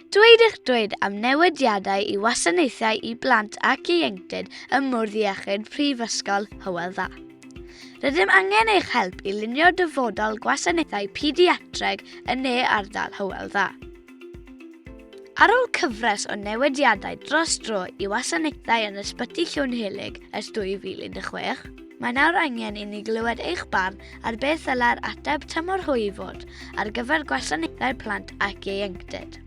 Dweud eich dweud am newidiadau i wasanaethau i blant ac ieuenctid ym Mwrdd Iechyd Prifysgol Hywel Dda. Rydym angen eich help i lunio dyfodol gwasanaethau pediatreg yn ne ardal Hywel Dda. Ar ôl cyfres o newidiadau dros dro i wasanaethau yn Ysbyty Llwynhelyg ers 2016, Mae nawr angen i ni glywed eich barn ar beth ddylai'r ateb tymor hwy i fod ar gyfer gwasanaethau plant ac ieuenctid.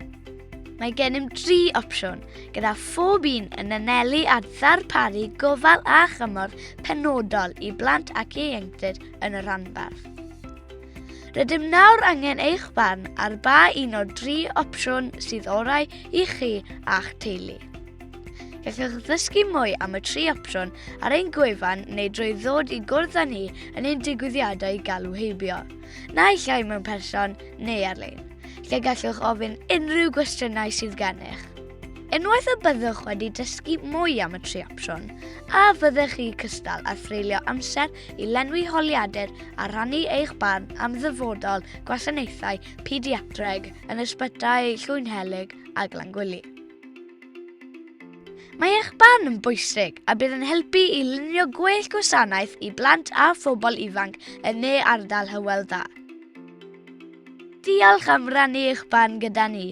Mae gennym dri opsiwn, gyda phob un yn anelu at ddarparu gofal a chymorth penodol i blant ac ieuenctid yn y rhanbarth. Rydym nawr angen eich barn ar ba un o'r dri opsiwn sydd orau i chi a'ch teulu. Gallwch ddysgu mwy am y tri opsiwn ar ein gwefan neu drwy ddod i gwrdd â ni yn ein digwyddiadau galw heibio, naill llai mewn person neu ar-lein, lle gallwch ofyn unrhyw gwestiynau sydd gennych. Unwaith y byddwch wedi dysgu mwy am y tri opsiwn, a fyddech chi cystal a threulio amser i lenwi holiadur a rhannu eich barn am ddyfodol gwasanaethau pediatreg yn ysbytai Llwynhelyg a Glangwili. Mae eich barn yn bwysig a bydd yn helpu i lunio gwell gwasanaeth i blant a phobl ifanc yn ne ardal Hywel Dda. Diolch am rannu eich barn gyda ni.